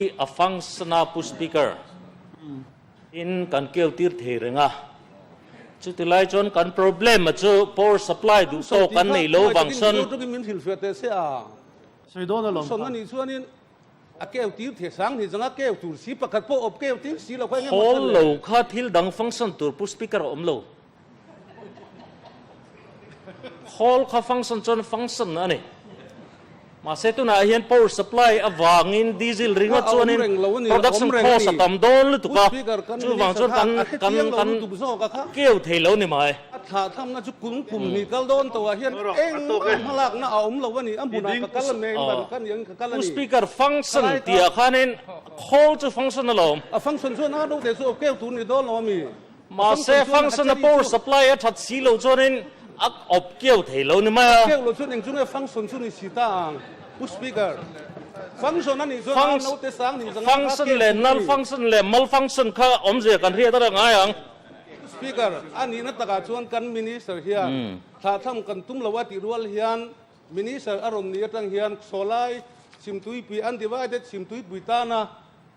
Hi Afang Sana Pustikar in kan keltir thei reng a, chutilai chuan kan problem-a chu power supply duh tawk kan nei lo vang sawn. Sawi tih kha kum sawi tiin zo tuk in min hrilhfiah teh se a, sawi dawn alawm kha. Sawn a nih chuan in a keltir thei sang ni zanga keu tur si pakhat pawh awp keu tir si lo kha eng emaw a sawn le. Hawl lo kha thil dang fangsan tur Pustikar a awm lo. Hall kha function chuan function a ni. Mahse tunah hian power supply avangin diesel ringa chuanin production cost a tam dawn lutuk a, chuvang chuan kan kan kan keu thei lo ni mai. A thlah thlamna chu kung kum hnih kal dawn tawhah hian eng emaw lakna a awm lo a ni. A hmunah ka kal a ni a, engmah ka ni angin ka kal a ni. Pu Speaker, function tihah khanin hall chu function a lo awm. A function chuan a deuh teh chu a keu tur ni dawn lo a mi. Mahse, function-a power supply-a that si lo chuanin a awp kiau thei lo ni mai a. A kiau lo chuan engchunge function chu ni si ta ang. Push speaker. Function-a nih chuan a note-e sang ning zanga a hak kiau thei mai. Function leh null function leh malfunction kha awmzia kan hriat aṭang ngai ang. Push speaker. A nihna takah chuan kan Minister hian thlahthlam kan tum lo a tih rual hian Minister a rawn nih aṭang hian Khawsawhlai chhimtuipui undivided chhimtuipui tana,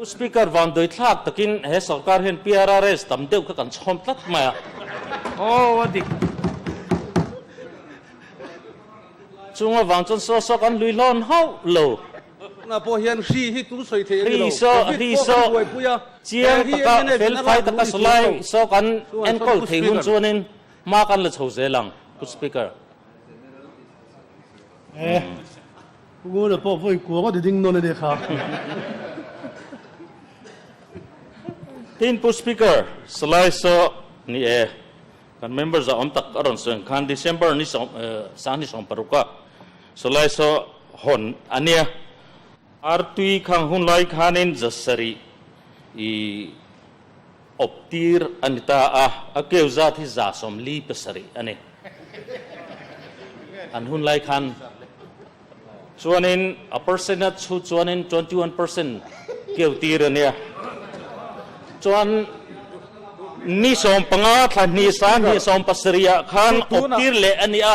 U Speaker, van dawithlak takin he sawrkar hian PRRS tam deuh kha kan chhawm tlat mai a. Aw a dik. Chhung avang chuan saw saw kan lui hlawn hauh lo. Tunah pawh hian hri hi tun sawi thei a ni lo. Covid pawh kan buaipui a. Chiang taka felfai taka saw lai saw kan enkawl thei hun chuanin hma kan la chho zel ang, U Speaker. Ngona pawh vawi kuang a ti ding nawn a ni kha. Tin pu speaker salai sawh ni e. Kan member zahawm tak a rawn seng khan December ni sawm sangni sawm paruk a salai sawh hawn a nia. Ar tui khang hun lai khanin zasarih i. awp tir a ni ta a, a keu zat hi za sawmli pasarih a ni. An hun lai khan chuanin a percent a chhut chuanin twenty one percent keu tir a nia. Chuan ni sawm panga thlahni sa ni sawm pasarih ah khan awp tir leh a ni a.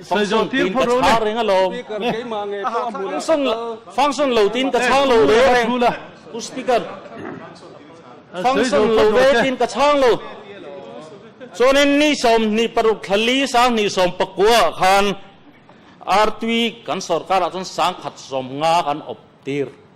Fangsawn tiin ka chhang reng alo. Fangsawn lo tiin ka chhang lo ve reng. Pu Speaker, fangsawn lo ve tiin ka chhang lo. Chuanin ni sawm, ni paruk thla li sang ni sawm pakua ah khan Artui kan sorkar ah chuan sangkhat sawm nga kan awp tir.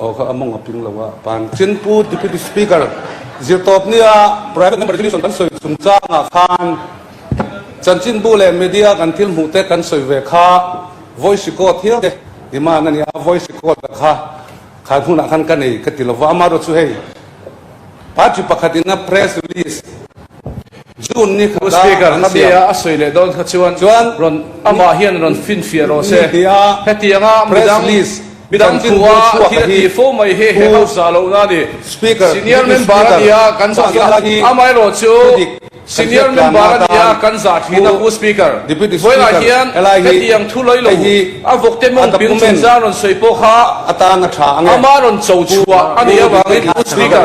Aw kha a mawng a ping lo a pan. Chinpu Deputy Speaker Zirtawp nia Private Member Resolution kan sawi chung changah khan chanchinbu leh media kan thil hmuh te kan sawi ve kha voice record hial te demand a ni a, voice record a kha khan hunah khan ka nei ka ti lo va, amaherawhchu hei Party pakhatina press release. June ni kha kha an siam. Khatianga a sawi leh dawn kha chuan rawn amah hian rawn finfiah rawh se. Hetianga midang midang thua thil a ti fo mai hi he ho za loh na ni. Senior member a nia kan za thin amaherawh chu senior member a nia kan za thin a u Speaker. Vawilah hian hetiang thu loi lo a vawk te mawng ping chungchang rawn sawi pawh kha ama rawn cho chhuah a nih avangin u Speaker.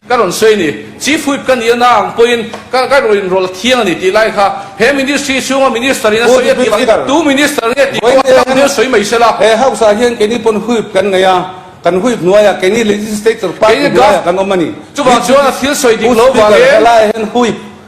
Ka rawn sawi ni, Chief Whip ka nih na ang pawhin ka ka rawn inrawl thiang a ni tih lai kha. He Ministry chhunga Minister in a sawi a ti ang, Tu Minister nge tih kawng a tam hian sawi mai se la. He House ah hian keini pawn Whip kan ngaih a, kan Whip hnuai ah keini Legislator party hnuai ah kan awm a ni. Chuvang chuan a thil sawi dik lo vang in. Pu Speaker, helai ah hian Whip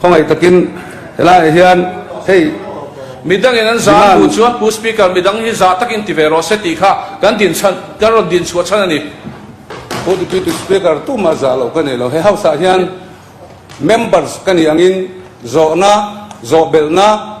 Khawngaih takin he laiah hian hei midangin an zan hnu chuan Pu Speaker midang hi zah takin ti ve rawh se tih kha kan din chhan, kan rawn din chhuah chhan a ni. Pu Deputy Speaker tumah zah loh ka nei lo. He House-ah hian Members ka nih angin zawhna, zawhbelhna,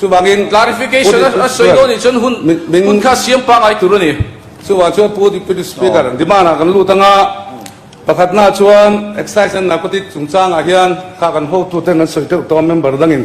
Chuvangin clarification a sawi dawn nih chuan hun hun kha siam pah ngai tur a ni. Chuvang chuan Pu Deputy Speaker an demand ah kan lut ang a, pakhat na chuan excise and narcotic chungchang ah hian kha kan hotu ten an sawi teuh tawh a member dang in.